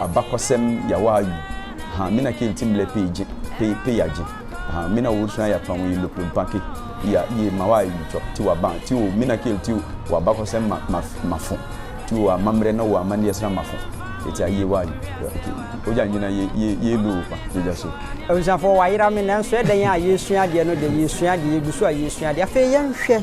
abakɔsɛm yawa ayu ha me na kenti mlɛ pei gye pei pei agye ha me na wɔsua ya tɔn yi loplo mpake ya ye ma wa ayu tɔ ti wa ban ti o me na kenti wa abakɔsɛm ma ma mafo ti o amammerɛ na wɔ amanneɛ sra mafo eti aye wa ayu ogya nyina ye ye ye lo pa gyegya so. Abusuafoɔ wayera me nanso ɛdɛn a yɛresua adeɛ no deɛ yɛresua adeɛ yɛgu so a yɛresua adeɛ afei yɛnhwɛ.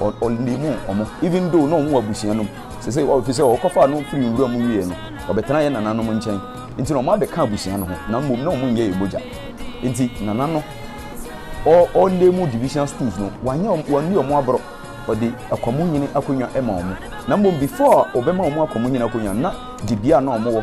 ɔ ɔ leave wɔn even though na wɔn wɔ abusua no mu sese ɔfi sɛ ɔkɔfa no firi nwura mu wie no ɔbɛtena yɛ nananom nkyɛn nti na wɔn abɛka abusua no ho na mmom na wɔn nyɛ yɛ mogya nti nana no ɔ ɔ leave division schools no wanyɛ wɔn wɔn ni wɔn aborɔ ɔde akwamu nyini akonnwa ɛma wɔn na mmom before ɔbɛma wɔn akwamu nyini akonnwa na dibea na wɔn wɔ.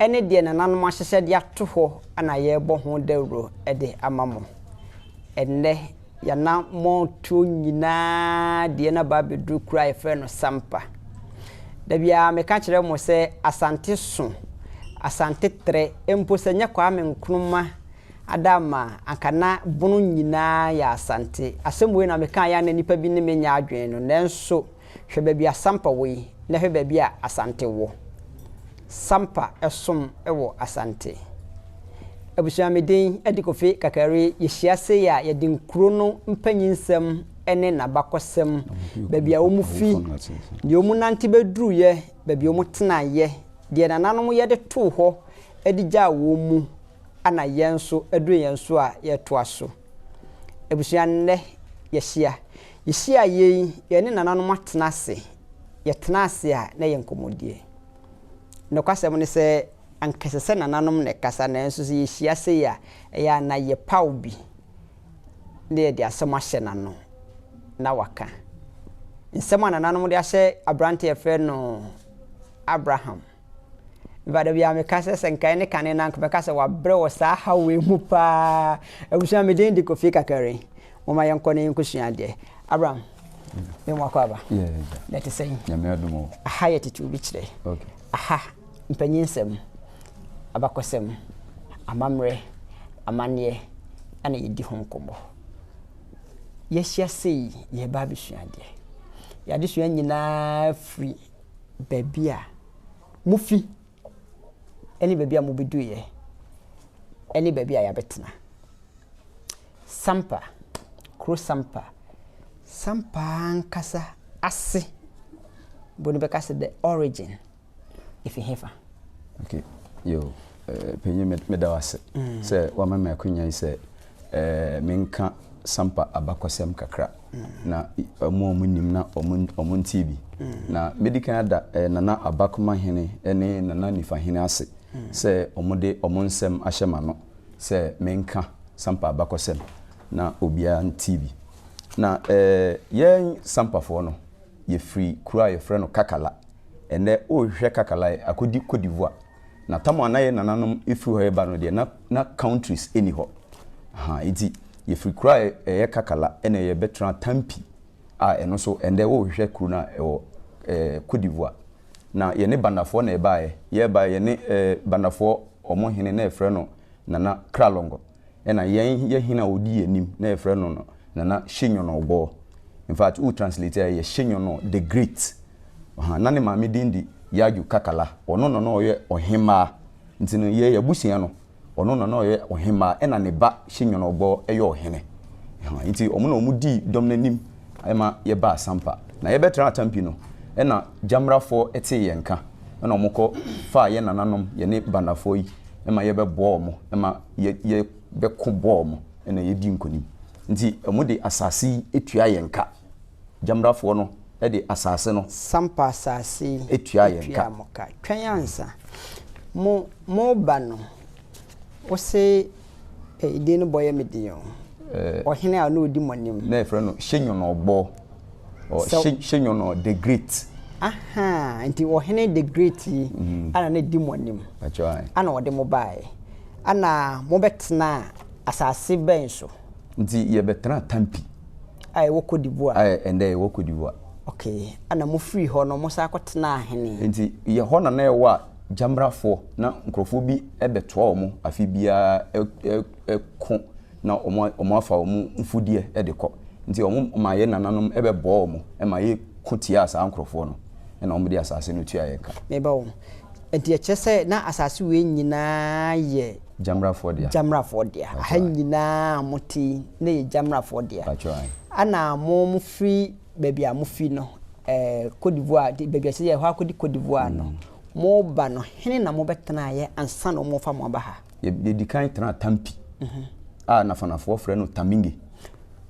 ɛne deɛ nananom ahyehyɛ de ato hɔ na yɛrebɔ ho dawuro de ama mo. Ɛnnɛ, y'anammɔntuo nyinaa deɛ na ba abɛduru kuro a yɛfrɛ no Sampa. Da biara meka kyerɛ mo sɛ Asante so, Asante trɛ, mpo sɛ nyɛ Kwame Nkrumah ada ama a, anka na bono nyinaa yɛ Asante. Asɛm wei na mekaeɛ a na nnipa bi ne me nyɛ adwene no, nanso, Hwɛ baabi a Sampa wɔ yi na hwɛ baabi a Asante wɔ. Sampa som wɔ Asante. Abusua me din de Kofi Kakari, yɛhyia sei a yɛde nkuro no mpanyinsɛm ne n'abakɔsɛm, baabi a wɔn fi, deɛ wɔn nante bɛduruiɛ, baabi a wɔn tenaeɛ, deɛ nananom yɛ de too hɔ de gyaa wɔn mu, ɛna yɛn nso ɛduru yɛn so a yɛretoa so. Abusua nnɛ yɛahyia. Yehyiaeɛ yi, yɛne nananom atena ase. Yɛtenaa ase a, na ɛyɛ nkɔmmɔdie. Nokwasɛm ne sɛ, anka ɛsɛ sɛ nananom na ɛkasa, nanso sɛ yɛhyia sei a, ɛyɛ a na yɛpaw bi na yɛde asɛm ahyɛ n'ano na waka. Nsɛm a nananom de ahyɛ aberante a yɛfrɛ no Abraham. Mfa dabi a meka sɛ sɛ nka ɛne kane no a nka mɛka sɛ wabrɛ wɔ saa haw wei mu paa. Abusua me din de Kofi Kakari. Momma yɛnkɔ na yɛnkɔsua adeɛ. Abraham, me mu akɔ aba. Na ɛte sɛn? Nyame adom o. Aha yɛ tete obi kyerɛ. Aha, mpanyinsɛm, abakɔsɛm, amammerɛ, amanneɛ ɛna yɛdi ho nkɔmmɔ. Yɛahyia sei, yɛreba abɛsua adeɛ. Yɛn adesua nyinaa firi baabi a mufi ne baabi a mubeduiɛ ne baabi a yɛabɛtena. Sampa, kuro Sampa, Sampa ankasa ase mpo no bɛka sɛ the origin ɛfiri hefa? Okay, yo, eh, panyin me- meda wo ase sɛ wama me akwanya yi sɛ eh, menka Sampa abakɔsɛm kakra. na wɔn a wɔnim na wɔntee bi. Na mɛdi kan ada Nana Abakoma Hene ne Nana Nifa Hene ase sɛ wɔde wɔn nsɛm ahyɛ m'ano sɛ menka Sampa abakɔsɛm, na obiara ntee bi. Na yɛn Sampafoɔ no, yɛfiri kuro a wɔfrɛ no Kakala. Ɛnnɛ, worehwehwɛ Kakala a, akɔdi Cote d'Ivoire. Na tam a na yɛn nananom firi hɔ reba no deɛ, na na countries nni hɔ. Ahaa, enti yɛfiri kuro a ɛyɛ Kakala na yɛbɛtenaa Tampi a ɛno nso, ɛnnɛ wohwehwɛ kuro no a, ɛwɔ ɛɛ Cote d'Ivoire. Na yɛne Bandafoɔ na yɛbaeɛ. Yɛbaeɛ, yɛne ɛɛ Bandafoɔ wɔn hene na yɛfrɛ no Nana Kralongo. Ɛna yɛn yɛ hene a ɔdi yɛn anim na yɛfrɛ no no Nana Hyenyono-Obor. In fact, wo translate a ɛyɛ Hyenyono the Great. Ɔha, na ne maame din de Yaju Kakala. Ɔno na na ɔyɛ ɔhemmaa. Nti no, yɛn abusua no, ɔno na na ɔyɛ ɔhemmaa, ɛna ne ba Hyenyono-Obor yɛ ɔhene. Ɔha, nti wɔn na wɔn dii dɔm no anim ma yɛbaa Sampa. Na yɛbɛtraa Atampi no, ɛna Gyamrafoɔ tee yɛn nka, ɛna wɔkɔ faa yɛn nananom, yɛne Bandafoɔ yi, ma yɛbɛboa wɔn ma yɛbɛko bɔ wɔn na yɛadi nkonim. Nti wɔde asase yi tua yɛn ka. Gyamrafoɔ no de asase no. Sampa asase yi tua yɛn ka. Twɛn ansa. Mo, moba no, wo se, Ɛɛ, din no bɔ yɛ me den o. Ɔhene a ɔne ɔdi mo anim. Na yɛfrɛ no Hyɛ Nyɔnɔbɔ. Ɔ Sɛ- Hye- Hyenyo no the great. ahaa nti ɔhene the great yi Mm. ana ne di mo anim Pacho ai. ana ɔde mo baeɛ ana mobɛtena asase bɛn so Nti yɛbɛtena Tampi a ɛwɔ Cote d'Ivoire a ɛndɛ ɛwɔ Cote d'Ivoire. ok ana mofiri hɔ no mosan kɔtenaa hene Nti yɛ hɔ na na ɛwɔ a gyamrafoɔ na nkurɔfoɔ bi bɛtoa wɔn afe biara ɛ- ɛ- ɛko na wɔafa wɔn mfudeɛ de kɔ. Nti wɔmaa yɛn nananom bɛbɔɔ wɔn ma yɛko tiaa saa nkurɔfoɔ no, ɛna wɔde asase no tuaa yɛn ka. Meba ho. Nti ɛkyerɛ sɛ na asase wei nyinaa yɛ. Gyamrafoɔ dea. Gyamrafoɔ dea. Aha nyinaa a mote yi, na ɛyɛ Gyamrafoɔ dea. Pakyɛ ae. Ɛna mofiri baabi a mofi no, ɛɛ Côte d'Ivoire, baabi a ɛsɛ sɛ yɛkɔ akɔdi Côte d'Ivoire no, moba no, hene na mobɛtenaeɛ ansa na wɔrefa mo aba ha? yɛdi kan tena Tampi a Nafanafoɔ frɛ no Taminge.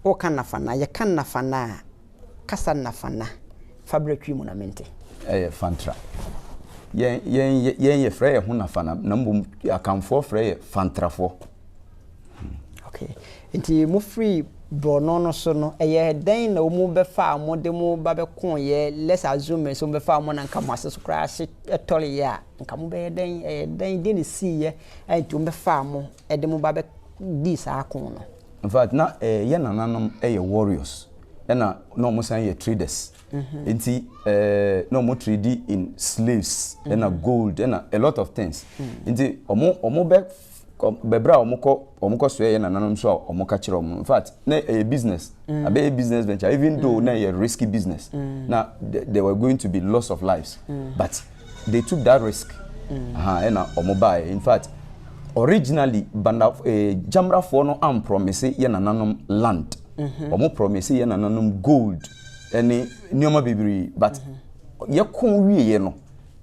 Woka Nafana, yɛka Nafana a, kasa Nafana fa berɛ twi mu na mente. Ɛyɛ Fantra. Yɛn, yɛn, yɛn yɛfrɛ yɛn ho Nafana na mmom Akanfoɔ frɛ yɛ Fantrafoɔ. Hmm. Okay. Nti mofiri borɔno no so no, ɛyɛ dɛn na wɔn bɛfaa mo de mo ba bɛkoo yɛ, let's assume sɛ wɔn bɛfaa mo na nka mo ase so koraa hye tɔreyɛ a, Anka mobɛyɛ dɛn? Ɛyɛɛ dɛn? Deɛn na ɛsiiɛ a enti wɔbɛfaa mo de mo ba bɛdii saa ako no? In fact, na yɛn nananom yɛ warriors, ɛna na wɔn san yɛ traders. Nti na wɔn trade in slaves, ɛna gold, ɛna a lot of things. Nti wɔn bɛ kɔ bɛ bra wɔn kɔ wɔn kɔ sɔɛ yɛ nananom nso a wɔn ka kyerɛ wɔn in fact na ɛyɛ eh, business mm. abɛyɛ business venture even mm. though na ɛyɛ risky business mm. na there were going to be loss of lives mm. but they took that risk mm. aha ɛna wɔn ba yɛ in fact originally banda eh, jamrafoɔ no am promise yɛ nananom land wɔn mm-hmm. promise yɛ nananom gold ɛne nneɛma bebree but mm-hmm. yɛ kɔn wie yɛ no.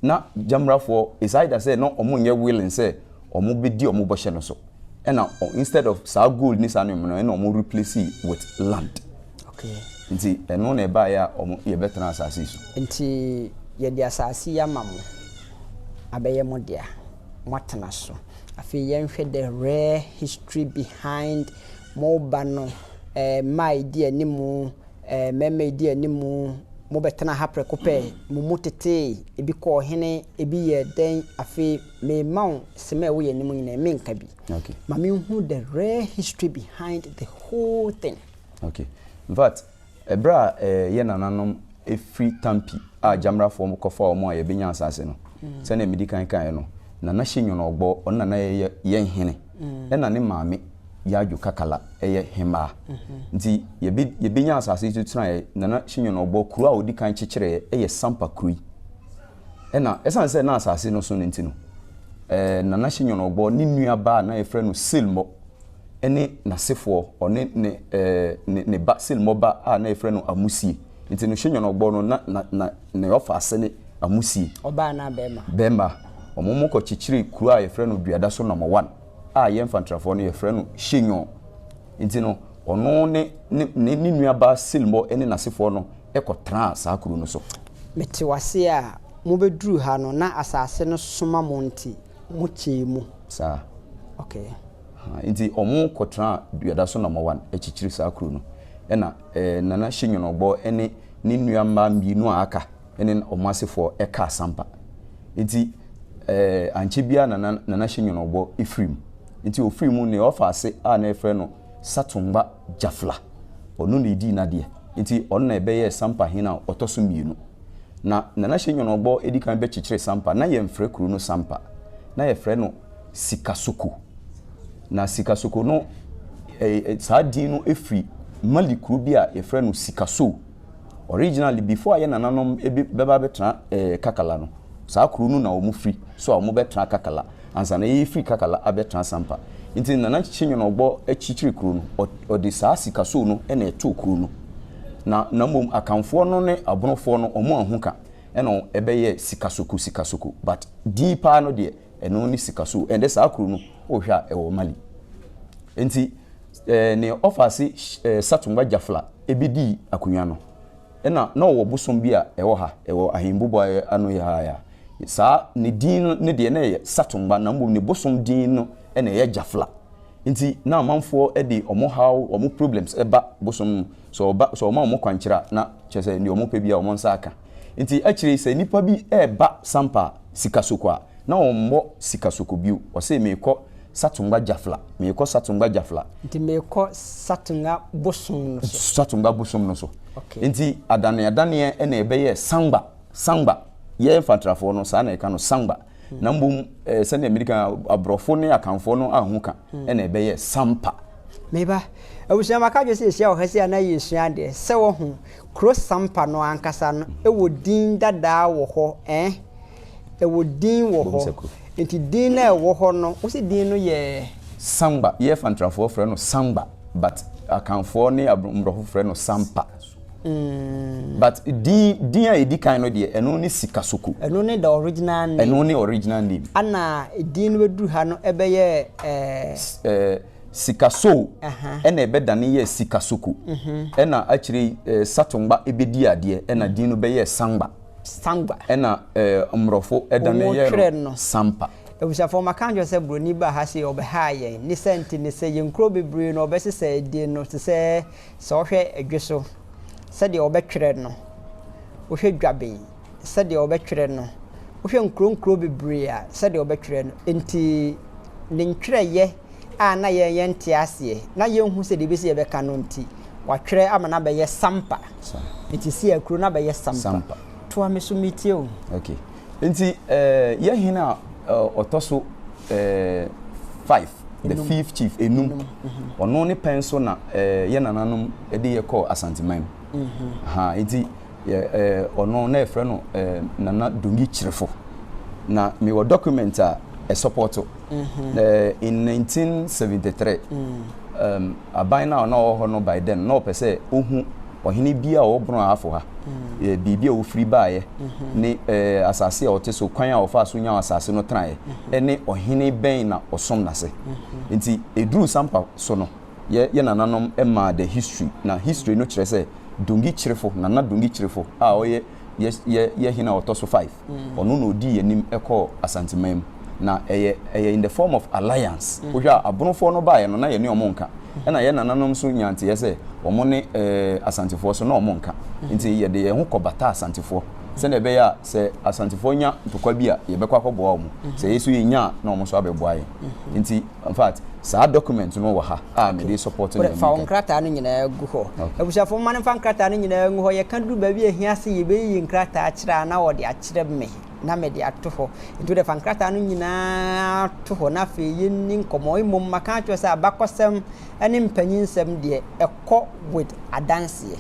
Na Gyamrafoɔ decided sɛ na ɔmo nyɛ willing sɛ ɔmo bɛdi ɔmo bɔhyɛ no so. Ɛna instead of saa gold ne saa nneɛma no ɛna ɔmo replace with land. Okay. Nti ɛno na ɛbaeɛ a ɔmo yɛbɛtena asaase yi so. Nti yɛde asaase yi ama mo abɛyɛ mo dea, moatena so. Afei yɛnhwɛ the rare history behind mo ba no, ɛɛ mma a ɛdi anim. Ɛɛ, mmarima a edi anim, mobɛtena ha prɛko pɛ? Mo mu tetee, ebi kɔɔ hene, ebi yɛɛ dɛn? Afei merema wo nsɛm a ɛwɔ yɛn anim nyinaa, menka bi. Okay. Ma menhu the real history behind the whole thing. Okay. In fact, ɛberɛ a ɛɛ, yɛn nananom firi Tampi a Gyamrafoɔ kɔfaa wɔn a yɛbɛnya asaase no, sɛdeɛ medi kan kaeɛ no, Nana Hyenyono Ogbor, ɔno na na yɛ yɛn hene. Ɛna ne maame Yadwo Kakala yɛ hemmaa. Nti yɛbe yɛbɛnya asase yi so tenaeɛ, Nana Hyenyono ɔbɔ kuro a ɔdi kan kyekyereeɛ yɛ Sampa kuro yi. Ɛna ɛsiane sɛ na asase no so no nti no, ɛɛ Nana Hyenyono ɔbɔ ne nuabaa a na yɛfrɛ no Silmɔ ne n'asefoɔ, ɔne ne ɛɛ ne ne ba Silmɔ ba a na yɛfrɛ no Amusie. Nti no hwɛ nyɔnɔbɔ no na na na ne ɔfa ase ne amusie. Ɔbaa na bɛɛma. Bɛɛma. Ɔmo mo kɔ kyekyere kuro a yɛfrɛ no duada so nɔmɔ wan a yɛn fantrafoɔ no yɛfrɛ no hye nyɔn. Nti no ɔno ne ne ne ne nua baa silmɔ ne nasefoɔ no kɔ traa saa kuro no so. Me te wase a mo bɛ duru ha no na asaase no soma mo nti mo kyɛɛ mu. Saa. Okay. Haa nti ɔmo kɔ traa duada so nɔmɔ wan kyekyere saa kuro no ɛna. Nana Hyenwonobɔ ne ne nua mmaa mmienu a aka ne wɔn asefoɔ kaa Sampa. Nti ankyɛ biara na na Nana Hyenwonobɔ firi mu. Nti ɔfiri mu no, ɔfaa ase a na wɔfrɛ no Satungba Jafla. Ɔno na ɛdii n'adeɛ. Nti ɔno na ɛbɛyɛɛ Sampa hene a ɔtɔ so mmienu. Na Nana Hyenwonobɔ di kan bɛkyekyeree Sampa, na yɛmfrɛ kuro no Sampa. Na yɛfrɛ no Sikasoko. Na Sikasoko no, saa din no firi Mali kuro bi a wɔfrɛ no Sikasoo. Originally, before a yɛn nananom bɛba abɛtena Kakala no, saa kuro no na wɔfiri, so a wɔbɛtena Kakala, ansa na yɛrefiri Kakala abɛtena Sampa. Nti Nana Kyekyeenyono Ɔgbɔ kyekyeree kuro no, ɔde saa Sikasoo no na ɛtoo kuro no. Na na mmom Akanfoɔ no ne Abonofoɔ no, wɔanhu ka na ɛbɛyɛɛ Sikasoko Sikasoko, but din paa no deɛ, ɛno ne sika so ɛnde saa kuro no wohwɛ a ɛwɔ mali nti ɛɛ ne ɔfaase ɛɛ satumba jafla ebi di akonnwa no ɛna na ɔwɔ bosom bi a ɛwɔ ha ɛwɔ ahembubu a ano yɛ ha ya saa ne din no ne deɛ na ɛyɛ satumba na mbom ne bosom din no ɛna ɛyɛ jafla nti na amanfoɔ ɛde wɔn haw wɔn problems ɛba bosom Sɛ ɔba, sɛ ɔma wɔn kwankyerɛ a, na kyerɛ sɛ nea wɔpɛ biara wɔn nsa aka. Enti akyire yi, sɛ nnipa bi reba Sampa Sikasoko a, na wɔmmɔ Sikasoko bio. Ɔse, Merekɔ Satungwa Jafla, merekɔ Satungwa Jafla. Nti merekɔ Satunga bosom no so. Satungwa bosom no so. Okay. Enti adaneadaneɛ na ɛbɛyɛɛ Sangba, Sangba. Yɛn Mfantrafoɔ no, saa na yɛka no, Sangba. na mmom eh, sɛnea mmiri kan aborɔfo ne akanfoɔ no ahu ka hmm. ɛna ɛbɛyɛ sampa meba abusua maka dwe sɛ yɛhyia wɔ ha si a na yɛsua adeɛ sɛ wɔho kuro sampa no ankasa no ɛwɔ hmm. din dadaa wɔ hɔ eh? ɛwɔ din wɔ hɔ nti din no ɛwɔ hɔ no wo sɛ din no yɛ samba yɛfa ntrafoɔ frɛ no samba but akanfoɔ ne mmorɔfo frɛ no sampa Mm. But din din a edi kan no deɛ ɛno ne Sikasoko. Ɛno ne the original name. Ɛno ne original name. Ana din no bɛduru ha no ɛbɛyɛ ɛɛ. Ɛɛ Sikaso ɛna ɛbɛdane yɛ Sikasoko. Mhm. Ɛna akyire yi ɛɛ Satongba ɛbɛdi adeɛ ɛna mm. din no bɛyɛ Sangba. Sangba. Ɛna ɛɛ Mmorɔfo ɛdane yɛ no Sampa. abusuafoɔ maka nkyerɛ sɛ buroni ba ha se ɔbɛhaa yɛn ne sɛ nti ne sɛ yɛn nkuro bebree no ɔbɛsesɛ din no te sɛ Sɛ wɔhwɛ dwe so sɛdeɛ wɔbɛtwerɛ no, wohwɛ dwaben sɛdeɛ wɔbɛtwerɛ no, wohwɛ nkuro nkuro bebree a sɛdeɛ wɔbɛtwerɛ no, enti ne ntwerɛeɛ a na yɛn yɛnte aseɛ na yɛnhu sɛdeɛ ɛbɛsi yɛbɛka no nti, wɔatwerɛ ama no abɛyɛ sampa. Nti Siakuro no abɛyɛ sampa. Toa me so metie o. Okay. Nti yɛ hene a ɔtɔ so five, the fifth chief, enum, ɔno ne pɛn so na yɛ nananom de yɛ kɔɔ Asanteman mu. Mm-hmm. Nti ɔno na yɛfrɛ no Nana Dongi Kyerefo. Na mewɔ document a ɛsɔpɔto. Mm-hmm. In 1973, mm. um, Aban no a na ɔwɔ hɔ no bae dɛn? Ná ɔpɛ sɛ ohu ɔhene bi a ɔwɔ borɔn a afo ha, baabi a ofiri baeɛ, ne asase a ɔte so, kwan a ɔfaa so nyaa asase no tenaeɛ, ne ɔhene bɛn na ɔsom no ase. Enti ɛduruu saa mpa so no, yɛn yɛn nananom maa the history, na history no kyerɛ sɛ Dongi Kyirifo, Nana Dongi Kyirifo a ɔyɛ yɛn yɛn hene a ɔtɔ so 5, ɔno na ɔdii anim kɔɔ Asanteman mu na ɛyɛ ɛyɛ in the form of alliance mm. wohwɛ a abonofoɔ no baeɛ no na yɛne ɔmo nka mm. ɛna yɛ nananom so nya nteɛ sɛ ɔmo ne ɛɛ asantefoɔ so na ɔmo nka mm. nti yɛde yɛn ho kɔ bata asantefoɔ sɛdeɛ ɛbɛyɛ a sɛ asantefoɔ nya ntokwa bi a yɛbɛkɔ akɔboa ɔmo sɛ yɛ so yɛnya a na ɔmo so abɛboa yɛn nti In fact, saa document no wɔ ha a mede Okay. support Wode nea fa wo meka yi. nkrataa no nyinaa gu hɔ. Okay. Abusuafo, momma no mfa nkrataa no nyinaa ngu hɔ. Yɛka duru baabi a ehia sɛ yebeyiyi nkrataa akyerɛ a, na wɔde akyerɛ me, na mede ato hɔ. Enti wode fa nkrataa no nyinaa to hɔ, na afei yenni nkɔmmɔ. Mmom, maka akyerɛ wo sɛ abakɔsɛm ne mpanyinsɛm deɛ ɛkɔ with adanseɛ.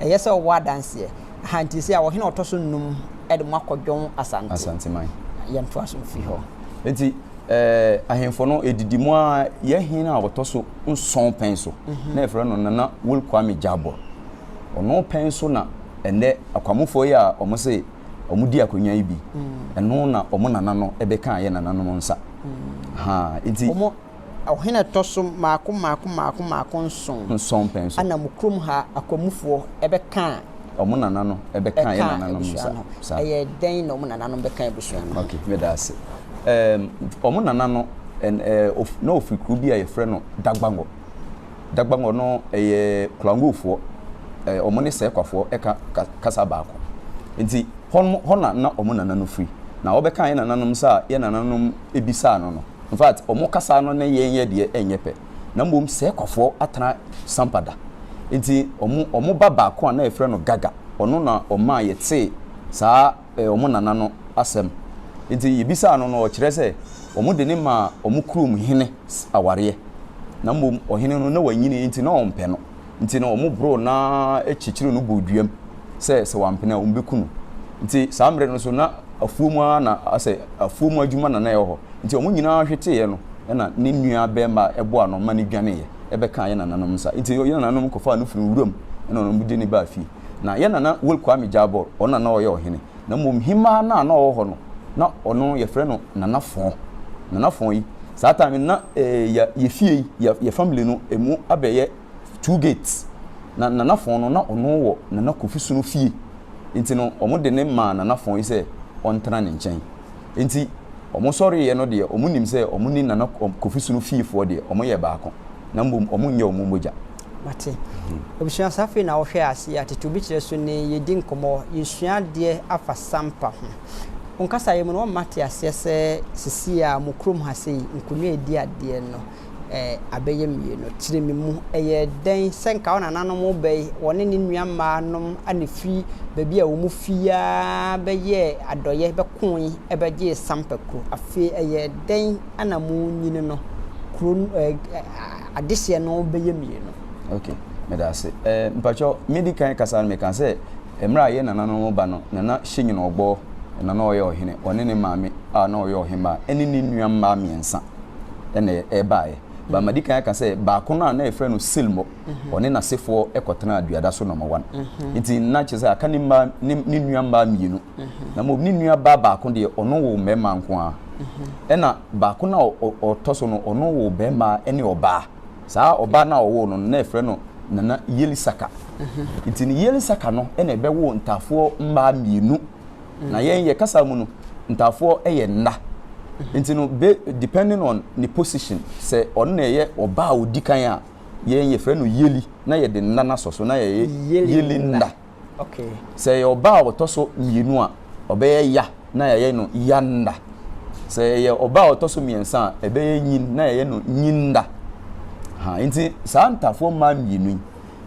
Ɛyɛ sɛ ɔwɔ adanseɛ. Aha nti sɛ a ɔhene ɔtɔ so nnum de mo akɔ Dwon Asante. Asanteman. Yɛntoa so mfiri hɔ. Nti eh, ahemfo no ɛdidi mu a yɛ hene a ɔtɔ so nson pɛn so mhm. na ɛfrɛ no Nana Will Kwame Jabor. Ɔno pɛn so na ɛnɛ akwamofoɔ yi a wɔn se wɔn di akonnwa yi bi mm. ɛno na wɔn nana no ɛbɛka yɛ nananom nsa mm. ha nti Ɔhene a ɛtɔ so mmaako mmaako mmaako mmaako nson. Nson pɛ nso. Ɛna mo kurom ha akwamufoɔ bɛkaa. Wɔn nananom bɛkaa yɛn nananom no saa. Ɛkaa abusua no. Ɛyɛ dɛn na wɔn nananom bɛkaa abusua no? Ok, me da ase. Ɛɛm, wɔn nana no, ɛn, ɛɛ, of, na ɔfiri kuro bi a yɛfrɛ no Dagbangɔ. Dagbangɔ no, ɛyɛ Klangofoɔ, ɛɛ, wɔn ne Sɛɛkwafoɔ ɛka ka, kasa baako. Nti, hɔ nom, hɔ na na wɔn nana no firi. Na ɔbɛkaa yɛn nananom saa a yɛn nananom bisaa no no. In fact, wɔn kasa no ne yɛn yɛ deɛ ɛnyɛ pɛ. Na mmom sɛɛ kwafoɔ atena sampa da. Nti wɔn wɔn ba baako a na yɛfrɛ no Gaga, ɔno na ɔmaa yɛtee saa eh, wɔn nana no asɛm. Nti yɛbisaa no no ɔkyerɛ sɛ wɔn de ne maa wɔn kurom hene awareɛ. Na mmom ɔhene no na wanyini nti na ɔmpɛ no. Nti no wɔboroo no ara kyekyeree no bɔɔ duam sɛ sɛ wampene a wɔbɛku no. Nti saa mmerɛ no nso na afuo mu ara na asɛ afuo mu adwuma na na ɛwɔ hɔ. Nti wɔn nyinaa hweteeɛ no na ne nua barima a ɛboa no ma no dwaneeɛ bɛkaa yɛn nananom nsa. Nti yɛn nananom kɔfaa no firii wuram na wɔn de no baa fie. Na yɛn nana Will Kwame Gyarbor ɔno na na ɔyɛ ɔhene. na mmom hemaa no a na ɔwɔ hɔ no, na ɔno yɛfrɛ no Nana Fɔn. Nana Fɔn yi, saa time no na eh, yɛ fie yi, yɛ family no, ɛmu abɛyɛ two gates. Na Nana Fɔn no, na ɔno wɔ Nana Kofi Sono fie. Nti no, wɔn de ne maa Nana Fɔn yi sɛ ɔntena ne nkyɛn. Enti wɔn sɔreeɛ no deɛ wɔn nim sɛ wɔn ne Nana Kofi Sunu fiefoɔ deɛ wɔn yɛ baako na mmom wɔn nyɛ wɔn mogya. Mate. Abusua saa afei na wohwɛ aseɛ a tete obi kyerɛ so ne yɛdi nkɔmmɔ, yɛsua adeɛ afa Sampa ho. Wo nkasaeɛ mu no wama mate aseɛ sɛ sesie a mo kurom ha sei, Nkonwa a ɛdi adeɛ no, eh, abɛyɛ mmienu. Kyere me mu, ɛyɛ dɛn sɛ nka wo nananom bɛn, wɔne ne nua mmaa nom a na firi baabi a wɔn fi ara bɛyɛɛ adɔyɛ bɛkoe bɛgyee Sampa kuro. Afei ɛyɛ dɛn na mo nyini no, kuro no, eh, eh, adehyeɛ no bɛyɛ mmienu. Ok, meda ase. Eh, mpakyɛ, me di kan kasa no meka sɛ, mmerɛ a yɛn nananom ba no, Nana Hyɛnyini Ɔbɔɔ na na ɔyɛ ɔhene, ɔne ne maame a na ɔyɛ ɔhemmaa, ɛne ne nua mmaa mmiɛnsa. ɛna ɛbaeɛ. Ba madi kan aka sɛ baako no a na yɛfrɛ no Silmo, mhm. ɔne n'asefoɔ kɔtenaa duada so nɔma wan. Mhm. Nti na kyerɛ sɛ aka ne mmaa ne nnua mmaa mmienu. Mhm. Na mmom ne nua baa baako deɛ ɔno wɔ mmarima nko ara. Ɛna baako no a ɔtɔ so no ɔno wɔ barima ne ɔbaa. Saa ɔbaa no a ɔwɔ no na yɛfrɛ no Nana Yelisaka. Nti ne Yelisaka no na ɛbɛwɔ ntaafoɔ mmaa mmienu. na mm. yɛn yɛ kasa mu no ntaafoɔ yɛ nna mm-hmm. nti no be depending on ne position sɛ ɔno na ɛyɛ ɔbaa odi kan a yɛn yɛfrɛ no yeli na yɛde nna no asɔ so na yɛyɛ yeli nna sɛ ɛyɛ ɔbaa a ɔtɔ so mmienu a ɔbɛyɛ ya na yɛyɛ no ya nna sɛ ɛyɛ ɔbaa a ɔtɔ so mmiɛnsa a ɛbɛyɛ nyin na yɛyɛ no nyin nna nti saa ntaafoɔ mmaa mmienu yi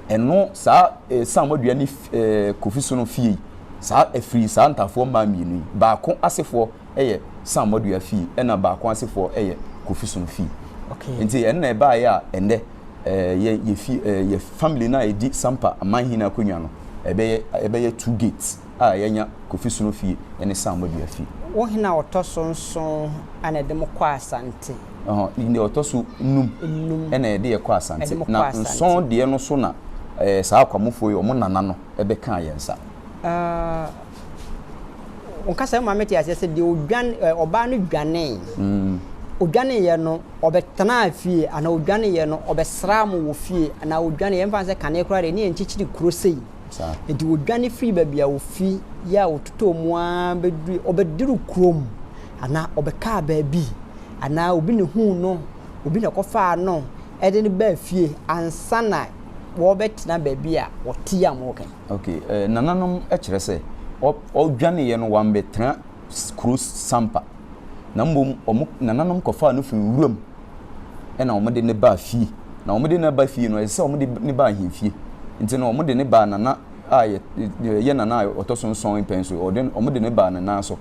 Ɛno saa eh, Sam Wadua ne eh, Kofi Sono fie yi, saa ɛfiri saa Ntafoɔ mmaa mmienu yi. Baako asefoɔ yɛ Sam Wadua fie, ɛna baako asefoɔ yɛ Kofi Sono fie. Okay. Nti ɛno na ɛbaeɛ a ɛnɛ eh, yɛ, yɛ, fie, eh, yɛ family no a ɛdi Sampa amanhene akonnwa no, ɛbɛyɛ, ɛbɛyɛ two gates a yɛanya Kofi Sono fie ne Sam Wadua fie. Wo hene a ɔtɔ so nson na ɛde mo kɔ Asante. Ɛhɔ, ne deɛ ɔtɔ so num ɛna ɛde yɛ kɔ asante. Na nson deɛ no so na ɛɛ saa akwamufoɔ yi wɔn nana no ɛbɛ kaa yɛn nsa. Ɔkasa yi ma mete aseɛ sɛ deɛ odwan ɔbaa no dwanee. Mm. odwaneeɛ no ɔbɛtenaa fie anaa odwaneeɛ no ɔbɛsraa mo wɔ fie anaa odwaneeɛ mfa sɛ kane koraa deɛ ne yɛnkyekyere kuro sei Enti wɔdwane firii baabi a wɔfi yɛ a wɔtotɔɔ mu ara bɛdurui, wɔbɛduru kurom anaa wɔbɛkaa baabi anaa obi na huu no, obi na kɔfaa no ɛde no baa fie ansa na wɔbɛtena baabi a wɔte a wɔka yi. Ok, eh, nananom kyerɛ sɛ wɔdwaneeɛ no wɔambɛtena kuro Sampa. na mmom wɔn nananom kɔfaa no firi nwura mu na wɔde no baa fie. Na wɔde no ba fie no, ɛsɛ sɛ wɔde no ba ahemfie. Nti no, wɔde no baa nana a ɛyɛ nana a ɔtɔ so nson mpɛn so. Wɔde no baa ne nan so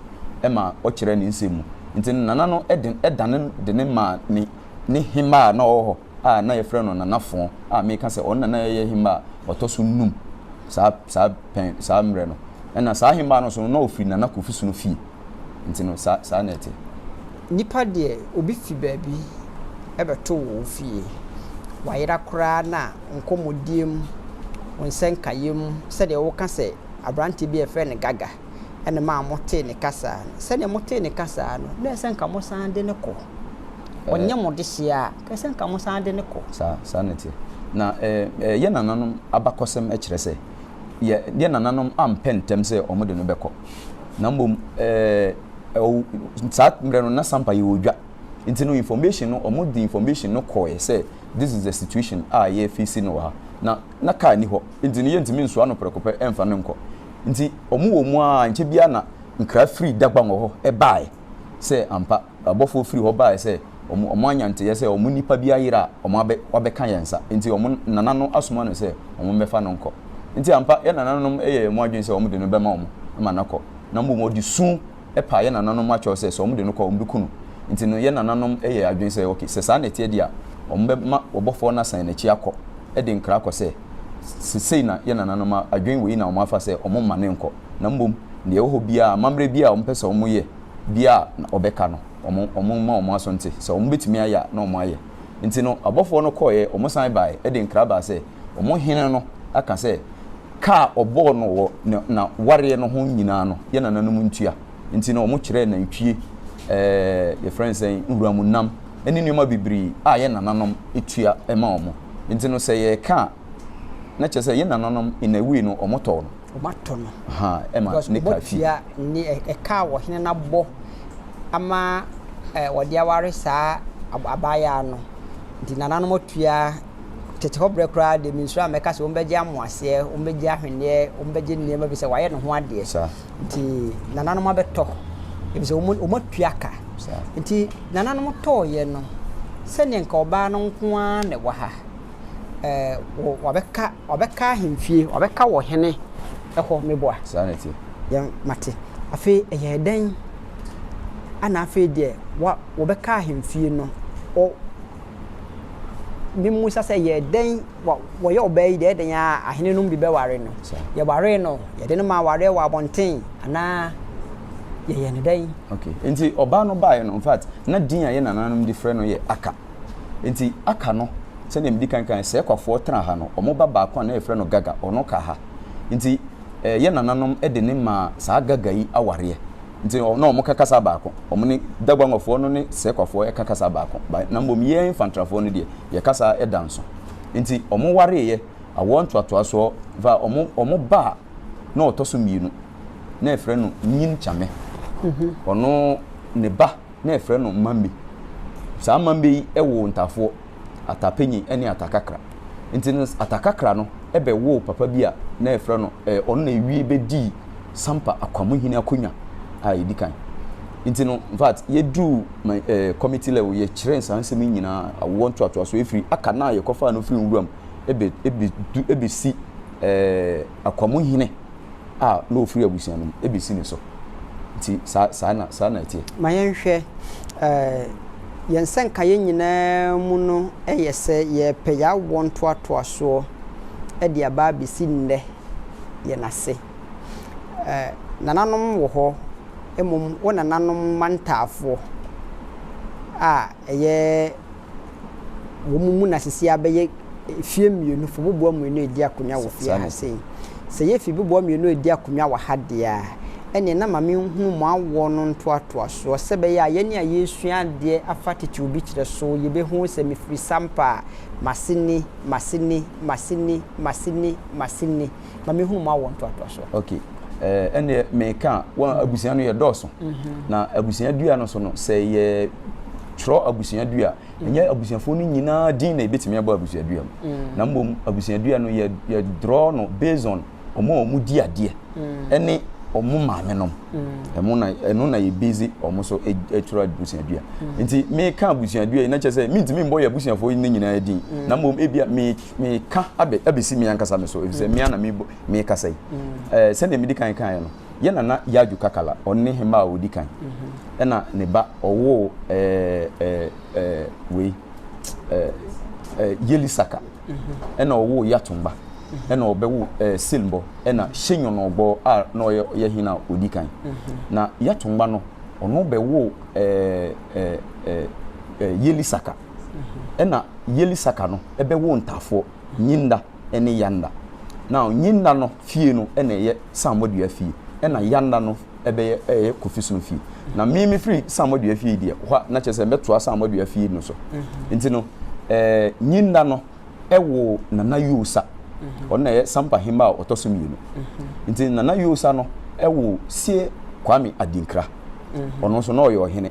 ma ɔkyerɛɛ ne nsɛm mu. Nti no, nana no de dane de no maa ne hemmaa a na ɔwɔ hɔ. a na yɛfrɛ no Nana Fon a meka sɛ ɔno na na ɛyɛ hemmba a ɔtɔ so nnum saa saa pɛn saa mmerɛ no. Ɛna saa hemmba no nso no na ɔfiri Nana Kofi Sono fie. Nti no saa saa na ɛte. Nipa deɛ obi fi baabi bɛto wo wo fie, wayera koraa na nkɔmmɔdie mu, wo nsɛnkaeɛ mu sɛdeɛ woka sɛ aberanteɛ bi a yɛfrɛ no Gaga. ɛna ɛmaa motee ne ka saa no. Sɛdeɛ motee ne ka saa no, na ɛsɛ sɛ anka mosan de no kɔ. Ɔnyɛ mo dehyeɛ a, anka ɛsɛ sɛ anka mosan de no kɔ. Saa, saa na ɛteɛ. Na ɛɛ, yɛn nananom abakɔsɛm kyerɛ sɛ, yɛ, yɛn nananom ampɛ ntɛm sɛ wɔde no bɛkɔ. Na mmom, ɛɛ, ɔw, saa mmerɛ no, na Sampa yɛ odwa. Nti no, information no, wɔde information no kɔeɛ sɛ, this is the situation a yɛrefeesi no wɔ ha. Na, na car nni hɔ. Nti no, yɛntumi nsoa no prɛko pɛ mfa no nkɔ. Ntsi wɔwɔ mu ara nkyɛ biara na nkra fir Dagbangor hɔ bae sɛ ampa abɔfoɔ fir hɔ bae sɛ wɔanya ntseyɛ sɛ wɔn nipa bi ayer a wɔabɛka hɛn nsa ntsi wɔn nana no asoma no sɛ wɔmbɛfa no nkɔ. Ntsi ampa yɛ nananom yɛɛ mu adwen sɛ wɔde no bɛma wɔn ma no akɔ na mbom wɔde su paa yɛn nananom mu akyɛw sɛ sɛ wɔde no kɔ a, wɔbeku no. Enti no, yɛn nananom yɛɛ adwene sɛ, Ok, sɛ saa na ɛteɛ deɛ a, wɔbɛma ɔbɔfoɔ no asan n'akyi akɔ de nkra akɔ sɛ, Seesei na yɛn nananom adwene wei na wɔafa sɛ wɔmma no nkɔ, na mmom deɛ ɛwɔ hɔ biara, amammerɛ biara a wɔpɛ sɛ wɔyɛ biara a, na wɔbɛka no. Wɔmma wɔn aso nte. Sɛ wɔbetumi ayɛ a, na wɔayɛ. Enti no, abɔfoɔ no kɔeɛ, wɔsan baeɛ de nkra baa sɛ, wɔn hene no aka sɛ, Ka a ɔbɔɔ no wɔ ne na wareɛ no ho nyinaa no yɛ nananom ntua nti no ɔmo kyerɛɛ nantwie ɛɛ yɛfrɛ no sɛn nwuramu nam ɛne nnoɔma bebiree a yɛ nananom tua ɛma ɔmo nti no sɛ yɛɛka a na kyerɛ sɛ yɛ nananom in a way no ɔmo tɔɔ no ɔmo atɔ no ahaa ɛma ne ka fi. Because ɔmo tua ne ɛka a ɔhene no abɔ ama ɛɛ ɔde aware saa abaayaa no nti nananom atua. Tete hɔ berɛ koraa deɛ mensuro a mɛka sɛ wɔbɛgye amoaseɛ, wɔbɛgye ahweneɛ, wɔbɛgye nneɛma bi sɛ wayɛ ne ho adeɛ. Nti nananom abɛtɔ, ebi sɛ wɔn atua ka. Nti nananom tɔɔyɛ no, sɛdeɛ nka ɔbaa no nko ara na ɛwɔ ha. Ɛɛ wabɛka wabɛka ahemfie, wabɛka wɔ hene ɛhɔ meboa. Saa na ɛte. Yɛn mate. Afei ɛyɛ dɛn? Ana afei deɛ wa wɔbɛka ahemfie no, Mimmisa sɛ, Yɛ dɛn? Wɔyɛ ɔbaa yi dɛn dɛn ara a, ahenenom bi bɛware no. Yɛwaree no, yɛde no maa awareɛ wɔ abɔnten, anaa yɛyɛ no dɛn? Okay. Nti ɔbaa no baeɛ no, in fact, na din a yɛ nananom de frɛ no yɛ Aka. Nti Aka no, sɛdeɛ medi kan kaeɛ, Sɛɛkwafoɔ tena ha no, wɔn ba baako a na yɛfrɛ no Gaga, ɔno ka ha. Nti eh, yɛ nananom de no maa saa Gaga yi awareɛ. Nti ɔ na wɔka kasa baako. Wɔne Daguangwafoɔ no ne Sequafoɔ ɛka kasa baako. Ba na mmom yɛn Fantrafoɔ no deɛ, yɛ kasa da nso. Nti wɔn wareeɛ, awoɔ ntoatoasoɔ, va wɔn wɔn ba a na ɔtɔ so mmienu, na yɛfrɛ no Nyin Kyame. Ɔno ne ba. na ɛfrɛ no mmambe. Saa mmambe yi woo ntafoɔ, atapenyin ne atakakra. Nti no atakakra no bɛwoo papa bi a na ɛfrɛ no, ɛɛ ɔno na ɛwie bɛdii Sampa Akwamuhene akonwa a ɛdi kan. Nti no in fact yɛduruu ma ɛɛ committee level yɛkyerɛɛ saa nsɛm yi nyinaa, awoɔ ntoatoasoɔ firi aka no a yɛkɔfaa no firi nwura mu bɛ bɛ bɛ du bɛsi ɛɛ. Akwamuhene a na ɔfiri abusua no mu bɛsi ne so. Nti saa, saa na, saa na ɛteɛ. Ma yɛnhwɛ, eh, yɛn nsɛnkaeɛ nyinaa mu no yɛ sɛ yɛrepɛ yɛawoɔ ntoatoasoɔ de aba abɛsi nnɛ yɛn ase. Eh, nananom wɔ hɔ, mmom wo nananom mantaafoɔ a ɛyɛ. wɔn mu na sisi abɛyɛ fie mmienu fo boboa mmienu edi akonnwa wɔ fie ha sei sɛ yɛ fi boboa mmienu edi akonnwa wɔ ha deɛ a ɛneɛ na maame nhunu mo awoɔ no ntoatoasoɔ sɛ bɛyɛ a yɛne a yɛsua adeɛ afa titiriw bi kyerɛ so yɛbɛhu sɛ mefiri sampa a maseni maseni maseni maseni maseni ma me hunu ma wɔ ntoatoa so. okay ɛɛ eh, ɛnneɛ meka a wɔn mhm. abusua no yɛ dɔɔso mhm. na abusua dua no so no sɛ yɛ twerɛ abusua dua mhm. ɛnyɛ abusuafoɔ no nyinaa din na ebetumi abɔ abusua dua mu na mmom abusua dua no yɛ yɛ draw no based on wɔn a wɔn di adeɛ ɛne wɔn maame nom ɛmo na ɛno na yɛ busy wɔn so e, atwerɛ abusua dua nti meka abusua dua yi na kyerɛ sɛ mintumi mbɔ yɛ abusuafoɔ yi ne nyinaa din na mmom ebia meka. Meka abɛ, abɛsi me ankasa me so, ɛfiri sɛ me ara na me, mekasa yi. Ɛɛ, sɛdeɛ medi kan kaeɛ no, yɛn nana Yaju Kakala, ɔno ne hemmaa a ɔdi kan. Ɛna ne ba, ɔwoo ɛɛ, ɛɛ, wei, ɛɛ, Yeli Saka. Ɛna ɔwoo Yatumba. Ɛna ɔbɛwo ɛɛ, Silmbɔ. Ɛna Shenyɔnɔgbɔ a na ɔyɛ ɔyɛ hene a ɔdi kan. Na Yatumba no, ɔno bɛwoo ɛɛ, ɛɛ, ɛɛ, Yeli Saka. Ɛna Yelisaka no bɛwoo ntaafoɔ, Nyinda ne Yanda. Now Nyinda no fie no na ɛyɛ Samuadua fie, ɛna Yanda no bɛyɛ ɛyɛ Kofisom fie. Na me mefiri Samuadua fie deɛ, hɔ a na kyerɛ sɛ mɛtoa Samuadua fie no so. Mm-hmm. Nti no, ɛɛ Nyinda no ɛwoo Nana Yosa. Mm-hmm. Ɔno na ɛyɛ Sampa hemma a ɔtɔ so mmienu. Mm-hmm. Nti Nana Yosa no ɛwoo Sie Kwame Adinkra. Ɔno nso na ɔyɛ ɔhene.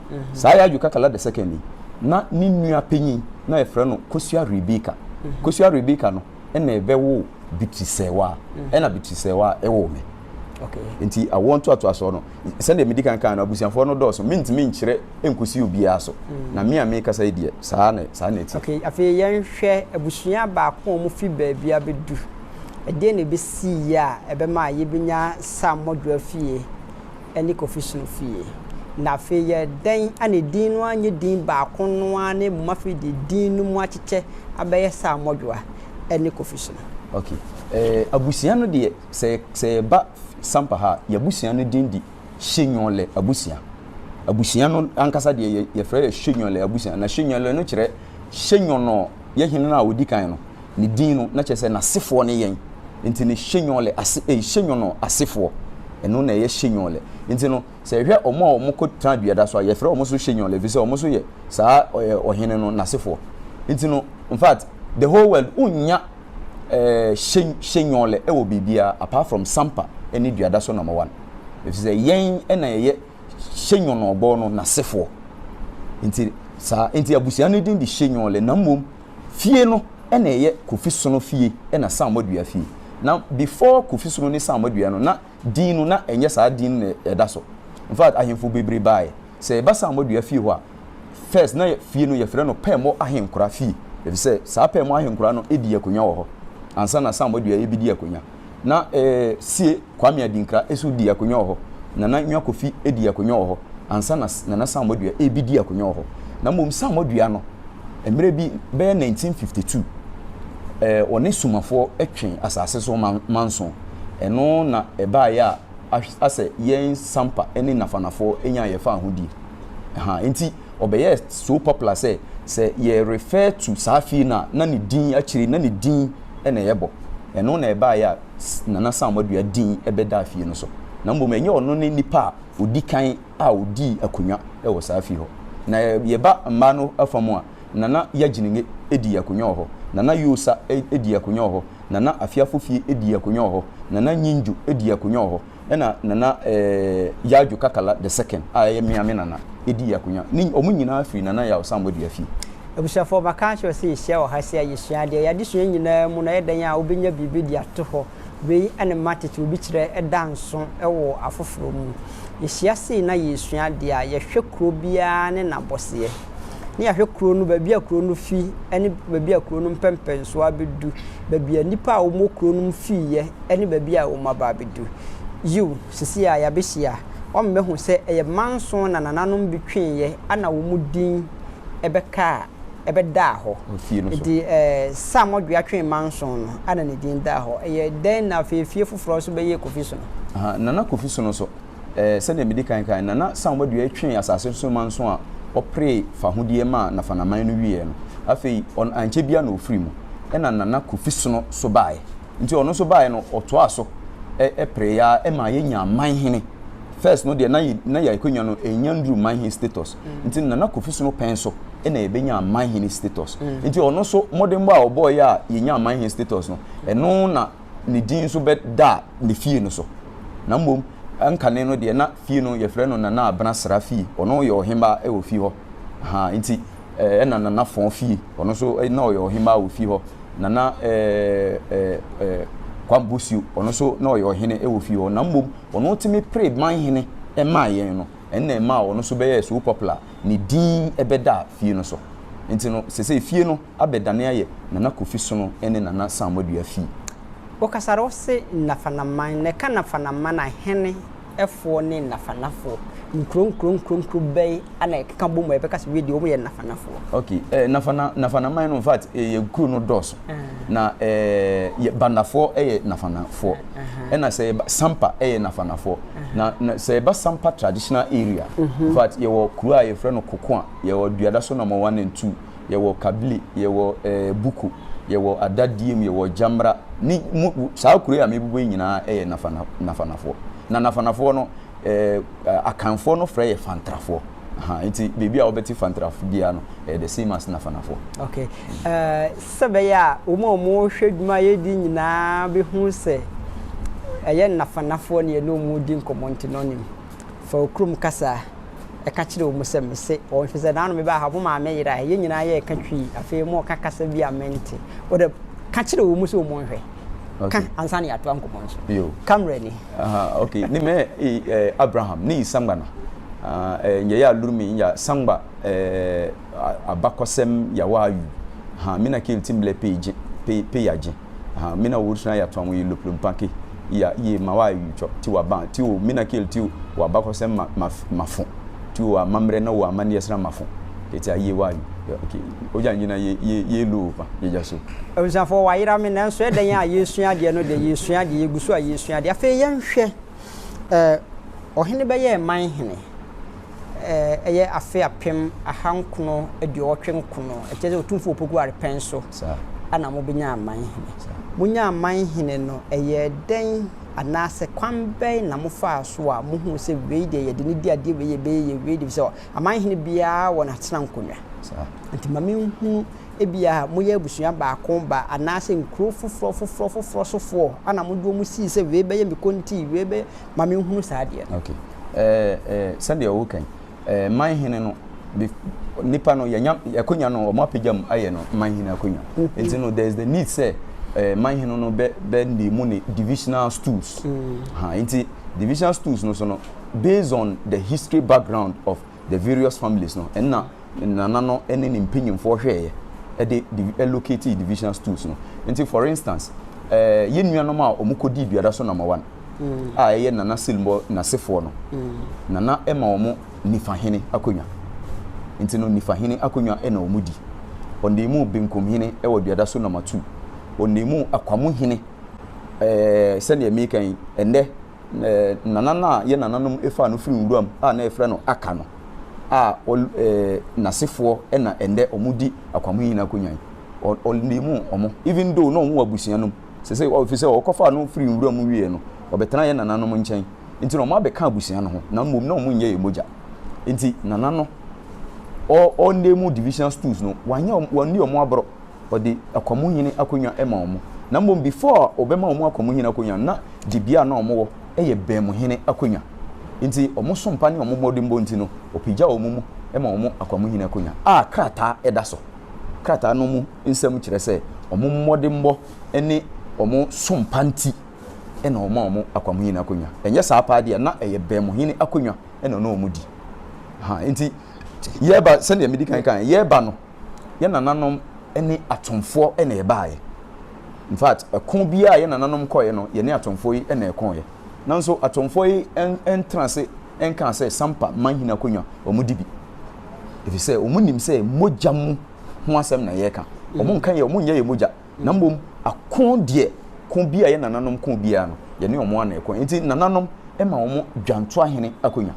Saa Yaju Kakala the second yi, na ne nua panyin na wɔfrɛ no Kosua Rebeka. Kosua Rebeka no na ɛbɛwoo Bitri Sɛwa, ɛna Bitri Sɛwa woo me. Nti awoɔ ntoatoasoɔ no, sɛdeɛ medi kan kaa no, abusuafoɔ no dɔɔso, mentumi nkyerɛ nkɔsi obiara so. Na me a mekasa yi deɛ, saa na saa na ɛte. Ok, afei yɛnhwɛ abusua baako a wɔfi baabi abɛdu. Ɛdeɛn na ɛbɛsiiɛ a ɛbɛmaa yɛbɛnya Sam Modwoa fie? ne Kofi Sunu fie. Na afei yɛ dɛn a ne din no ara nyɛ din baako no ara na mmom afei deɛ din no mu akyekyɛ abɛyɛ Sir Modwoa ne Kofi Sunu? Ok, eh, abusua no deɛ, sɛ, sɛ yɛba Sampa ha a, yɛn abusua no din de Hyenwɔlɛ abusua. Abusua no ankasa deɛ yɛ, yɛfrɛ yɛ Hyenwɔlɛ abusua. Na Hyenwɔlɛ no kyerɛ Hyenwɔnɔ, yɛ hene no a ɔdi kan no. Ne din no, na kyerɛ sɛ n'asefoɔ ne yɛn. Nti ne Shenyɔle ase, ei, Shenyɔnɔ asefoɔ. Ɛno na ɛyɛ Shenyɔle. Nti no, sɛ yɛhwɛ wɔn a wɔkɔtenaa dua da so a, yɛfrɛ wɔn nso Shenyɔle, ɛfiri sɛ wɔn nso yɛ saa ɛ, ɔhene no n'asefoɔ. Nti no, in fact, the whole world, wonnya ɛ, She, Shenyɔle wɔ biribiara apart from Sampa ne dua da so number one. Ɛfiri sɛ yɛn na yɛyɛ Shenyɔnɔ bɔ no n'asefoɔ. Nti saa, nti abusua no din de Shenyɔle, na mmom Fie no na ɛyɛ Kofi Sono fie na Sammor Dua fie. Na before Kofi Sono ne Sammor Dua no na din no na ɛnyɛ saa din no na ɛda so. In fact ahemfo bebree baaɛ. Sɛ yɛba Sammor Dua fie hɔ a first na fie no yɛfrɛ no Pɛɛmɔ Ahenkora fie efisɛ saa Pɛɛmɔ Ahenkora no di akonwa wɔ hɔ ansa na Sammor Dua ɛbedi akonwa. na ɛɛ sie Kwame Adinkra nso di akonnwa wɔ hɔ. Nana Nwa Kofi di akonnwa wɔ hɔ ansa na Nana Samoa Dua rebedi akonnwa wɔ hɔ. Na mmom Samoa Dua no, mmerɛ bi bɛyɛ 1952, ɛɛ ɔne Sumafoɔ twe asase so manso. Ɛno na ɛbaeɛ a asɛ yɛn Sampa ne Nafanafoɔ nyaa yɛn fahodie. Ahaa, enti. Ɔbɛyɛɛ so popular sɛ, sɛ yɛ refer to saa fie no a, na ne din akyire no, na ne din na yɛbɔ. Ɛno na ɛbaeɛ a Nana Sam Adua din bɛdaa fie no so. Na mmom ɛnyɛ ɔno ne nipa a ɔdi kan a ɔdii akonnwa wɔ saa fie hɔ. Na yɛba mmaa no afa mu a, Nana Yagyenenge dii akonnwa wɔ hɔ, Nana Yoosa dii akonnwa wɔ hɔ, Nana Afeafofie dii akonnwa wɔ hɔ, Nana Nyingyo dii akonnwa wɔ hɔ, Ɛna Nana Yaw-Dwo Kakala the second a ɛyɛ me a me nana dii akonya. Ne wɔn nyinaa firi Nana Yaw Sambɔ dua fie. Abusuafoɔ maka akyerɛ sɛ yɛhyia wɔ ha sɛ a yɛsua adeɛ. Yɛn adesua nyinaa mu no ɛyɛ dɛn a wobɛnya biribi de ato hɔ. Wei ne Matic obi kyerɛ da nso wɔ afoforɔ mu. Yɛhyia sei na yɛresua adeɛ a, yɛhwɛ kuro biara ne n'abɔseɛ. na yɛahwɛ kuro no, baabi a kuro no fi ne baabi a kuro no mpɛmpɛnsoɔ abɛdu, baabi a nnipa a wɔwɔ kuro no mu fiiɛ ne baabi a wɔaba abɛdu. Yiw, seesei a yɛabɛhyia, wɔbɛhu sɛ ɛyɛ mma nson na nananom bi tweeɛ a na wɔn din bɛkaa, ɛbɛdaa hɔ. Enti Sam Odwea twee mma nson no a na ne din daa hɔ. Ɛyɛ dɛn na afei efie foforɔ nso bɛyɛ Kofi Sono? Nana Kofi Sono nso, Ɛɛ, sɛdeɛ medi kan kae no, Nana Sam Wadua twee asase so man so a ɔperee fahodie maa Nafanaman no wieɛ no, afei ɔn ankyɛ biara na ɔfirii mu. Ɛna Nana Kofi Sono so baaɛ. Nti ɔno nso baaɛ no, ɔtoaa so ɛ, pereeɛ ara ɛmaa yɛnyaa manhene. First no deɛ na yɛ, na yɛ akwanya no ɛnnya nduru manhene status. Nti Nana Kofi Sono pɛn so ɛna yɛbɛnyaa manhene status. Nti ɔno nso mmɔdenbɔ a ɔbɔeɛ a yɛnyaa manhene status no, ɛno na. ne din nso bɛda ne fie no so. Na mmom ɛnkane no deɛ na fie no yɛfrɛ no Nana Abena Sra fie. Ɔno yɛ ɔhemmaa wɔ fie hɔ. Aha, nti ɛna Nana Fɔn fie, ɔno nso na ɔyɛ ɔhemmaa wɔ fie hɔ. Nana Kwam Bosuo, ɔno nso na ɔyɛ ɔhene wɔ fie hɔ. Na mmom ɔno tumi pere manhene maa yɛn no, ɛno na ɛmaa ɔno nso bɛyɛɛ so popular, ne din bɛdaa fie no so. Nti no, sɛsɛi fie no. abɛdane ayɛ Nana Kofi Sono ne Nana Samoadua fie. Wokasar wo se Nafanaman, na ɛka Nafanaman ahene foɔ ne Nafanafoɔ. Nkuro nkuro nkuro nkuro bɛn na ɛkeka bom a yɛbɛka se wedeɛ wɔyɛ Nafanafoɔ? Ok, eh, Nafana, Nafanaman no, in fact, eh, yɛ nkuro no dɔɔso. Uh -huh. Na eh, Bandafoɔ yɛ Nafanafoɔ. Uh -huh. Ɛna sɛ yɛba Sampa yɛ Nafanafoɔ. Uh -huh. Na, na sɛ yɛba Sampa traditional area, uh -huh. in fact, yɛwɔ kuro a yɛfrɛ no Kokoa, yɛwɔ Duadaso number one and two. yɛwɔ kabli, yɛwɔ eh, buku, yɛwɔ adadiem, yɛwɔ gyamra, ne mu, saa kuro yi a mebubu yi nyinaa yɛ nafana, nafanafoɔ. Na nafanafoɔ no, eh, akanfoɔ no frɛ yɛ fantrafoɔ. Aha, nti baabi a wɔbɛte fantrafo biara no, eh, the same as nafanafoɔ. Okay. Eh, sɛ bɛyɛ a, wɔn a wɔhwɛ dwuma yɛdi nyinaa bɛhu sɛ ɛyɛ nafanafoɔ ne yɛne wɔn di nkɔmmɔ nti no nim. Fa wo kurom kasa ka kyerɛ wɔn sɛ, 'Mise wɔn, ɛfiri sɛ nnaano mebaa ha, mo maame yeraeɛ. Yɛn nyinaa yɛɛ ka twirii. Afei moreka kasa bi a mente. Wo deɛ, ka kyerɛ wɔn sɛ wɔnhwɛ. Ka ansa na yɛatoa nkɔmmɔ no so. Ka mmerɛni. Okay, ne mɛ Abraham ne Isangba na nyɛ yɛ alurumi ya sangba abakɔsɛm yawaayu ha mina kɛlti mblɛ pɛ yagye. aha mina wo suna ya tɔn yi loplo mpake iya iye ma wa yi tɔ ti wa ban ti o mina kel ti wa bakɔsɛm ma ma mafo ti o amammerɛ na o amanneɛ sra mafo kɛti a iye wa yi ok ogya nyina ye ye ye lo pa yɛgya so. Abusuafoɔ wayera me nanso ɛdɛn a yɛresua adeɛ no deɛ yɛresua adeɛ yɛgu so a yɛresua adeɛ afei yɛnhwɛ. Ɛɛ, ɔhene bɛyɛɛ man hene. Ɛɛ, ɛyɛ afe apem ahankono aduɔwɔtwe nkono. Ɛkyerɛ sɛ Otumfo Opoku Arepɛn so na mobenyaa man hene. Monyaa man hene no, ɛyɛɛ dɛn anaasɛ kwan bɛn na mofaa so a mohuu sɛ wei deɛ yɛde no di adeɛ, wei yɛbɛyɛ yɛ wei deɛ, efisɛ aman hene biara wɔ n'atenankonnwa. Nti ma menhunu ebia moyɛ abusua baako ba anaasɛ nkuro foforɔ foforɔ foforɔ sofoɔ ana mode wɔn sii sɛ wei bɛyɛ me konti wei bɛ ma menhunu saa adeɛ no. Okay. Eh, eh, sɛdeɛ ɔwo kan eh, man hene no nipa no yɛnya akonya no wɔn apagya mu ayɛ no man hene akonya mm-hmm. nti no there is the need sɛ eh, man hene no bɛ bɛ ne mu ne divisional stools mm. ha nti divisional stools no so no based on the history background of the various families no ɛna ne nana no ne ne mpanyinfoɔ hwɛɛyɛ ɛde divi ɛlocate divisional stools no nti for instance ɛɛ yɛn nuanom a wɔn kɔ di duada so number one mm. a ɛyɛ nana silmɔ nasefoɔ no mm. nana ɛma wɔn nifa hene akonnwa nti no nifa hene akonnwa ɛna wɔn di wɔn de mu benkum hene ɛwɔ duada so number two wɔn de mu akwamo hene ɛɛ sɛdeɛ meka yi ɛnɛ. Nana no a yɛn nananom faa no firii nwuram a na yɛfrɛ no Aka no a ɔl eh n'asefoɔ na ɛnnɛ wɔdi akwamui nyinaa akonnwa yi. Ɔ ɔlnim wɔn even though na wɔwɔ abusua no mu. Seesei ɔ ɛfiri sɛ wɔkɔfaa no firii nwuram mu wieeɛ no, ɔbɛtenaa yɛn nananom nkyɛn. Enti na wɔabɛka abusua no ho na mmom na wɔnyɛ yɛn mogya. Enti Nana no ɔ ɔlnim divisional stools no, wanyɛ wɔn wanni wɔn aborɔ. ɔde akwamuhene akonnwa ma wɔn, na mmom before a ɔbɛma wɔn akwamuhene akonnwa no na dibea a na wɔn wɔ yɛ bɛnmuhene akonnwa nti wɔn sompa ne wɔn mmɔdenbɔ nti no ɔpagya wɔn mu ma wɔn akwamuhene akonnwa a krataa da so krataa no mu nsɛm kyerɛ sɛ wɔn mmɔdenbɔ ne wɔn sompa nti na wɔn a wɔn akwamuhene akonnwa ɛnyɛ saa paa deɛ na ɛyɛ bɛnmuhene akonnwa na ɔno wɔn di ha nti yɛba sɛdeɛ medi kan kan yɛba no yɛn nananom ne atomfoɔ na ɛbaeɛ. In fact, ɛko biara a yɛn nananom kɔeɛ no, yɛne atomfoɔ yi na ɛkoeɛ. Nanso atomfoɔ yi ntena ase nkaa sɛ Sampa manhene akonnwa wɔdi bi. Ɛfiri sɛ wɔnim sɛ mogya mu ho asɛm na yɛreka. Wɔn nka yɛ, wɔn nyɛ yɛ mogya. Na mmom ako deɛ, ko bi a yɛn nananom ko biara no, yɛne wɔn na ɛko. Nti nananom ma wɔn dwantoahene akonnwa.